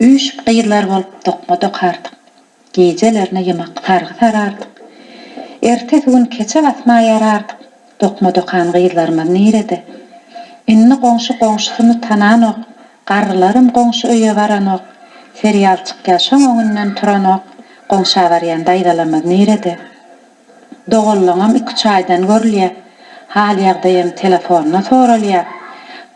Üýşüp gyzlar bolup dokma dokardyk. Gijelerine ýymak sargy sarardyk. Ertesi gün keçe basma ýarardyk. Dokma dokan gyzlarymyz nirede? Indi goňşy goňşusyny tananok. Garrylaram goňşy öýe baranok. Serial çykýar şoň öňünden turanok. Goňşa barýan daýzalarymyz nirede? Doganlygyňam iki çaýdan görülýär. Hal-ýagdaýam telefondan soralýar.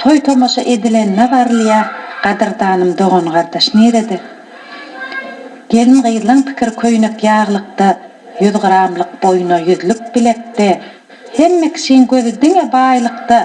Toý-tomaşa edilenine barylýar. Gadyrdanym dogan-gardaş nirede? Gelin-gyzlaň pikiri köýnek ýaglykda, ýüzgyramlyk boýna, ýüzlük bilekde. Hemme kişiň gözi diňe baýlykda.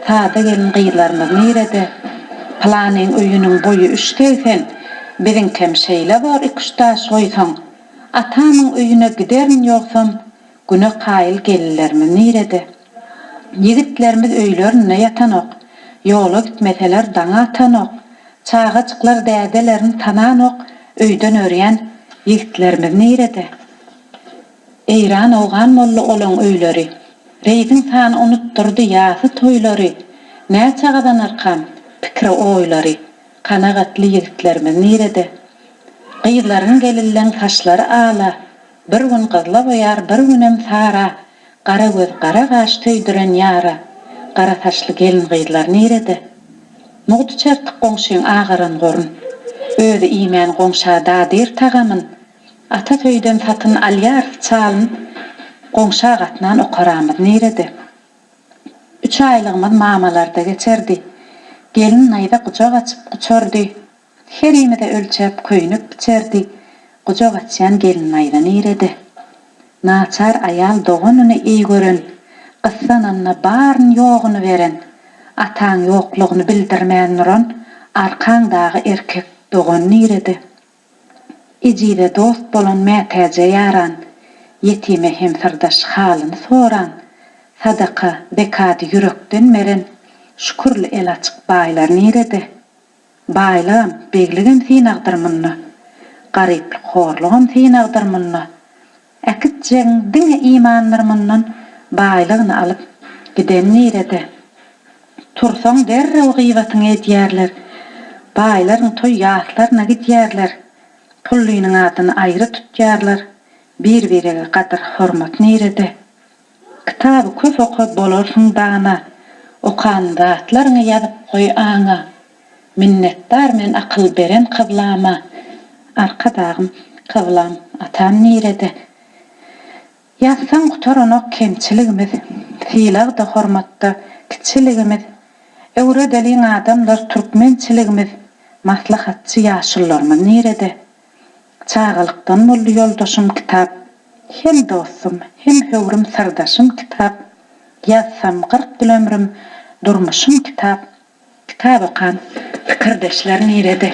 Sada gelin-gyzlarymyz nirede? Pylanyň öýüniň boýy üç segsen, biziňkem şeýle bor iki-üç daş goýsaň. Atamyň öýüne giderin ýogsam, güne kaýyl gelinlerimiz nirede? Ýigitlerimiz öýlerinde ýatanok, ýola gitmeseler daňy atanok, çagajyklar dädelerini tananok, öýden örýän ýigitlerimiz nirede? Eýran owgan boldy olaň öýleri, reýdiň sany unutdyrdy ýasy toýlary, näçe gazanarkam pikri-oýlary, kanagatly ýigitlerimiz nirede? Gyzlaryň gelilleň saçlary ala, Bir gün gyzla boýar, bir günem sara, Gara göz, gara gaş söýdüren ýara, Gara saçly gelin-gyzlar nirede? Mugdy çertik goňşyň agaran gorun, Özi iýmän goňşa dadyr tagamyn, Ata söýden satyn alýarys çalyn, Goňşa gatnan okaramyz nirede? Üç aýlygymyz mamalarda geçerdi, Gelin naýza gujak açyp guçardy, Herimize ölçäp köýnek biçerdi, gujak açýan gelin-aýza nirede? Naçar aýal doganyny eý gören, gyssananda baryny-ýoguny beren, ataň ýoklugyny bildirmän duran arkaň dagy erkek dogan nirede? Ejize dost bolan mätäje ýaran, ýetime hem syrdaş halyny soran, sadaka, zekady ýürekden beren, şükürli el açyk baýlar nirede? Baýlygam, begligem synagdyr munda. Garyplyk, horlugam synagdyr munda. Äkitjegiň diňe imandyr mundan Baýlygyny alyp, giden nirede? Tursaň derrew gyýbatyňy edýärler. Baýlaryň toý ýaslaryna gidýärler. Pullynyň adyny aýry tutýarlar. Bir-birege gadyr-hormat nirede? Kitaby köp oka bolarsyň dana Okan zatlaryňy ýazyp goý aňa Minnetdar men akyl beren kyblama Arkadagym kyblam atam nirede Ýazsaň gutaranok kemçiligimiz Sylagda hormatda kiçiligimiz Öwredeliň adamlar türkmençiligimiz Maslahatçy ýaşullarymyz nirede Çagalykdan boldy ýoldaşym kitap, Hem dostum, hem höwrüm syrdaşym kitap, Ýazsam kyrk ýyl ömrüm, durmuşym kitap, Kitap okan pikirdeşler nirede?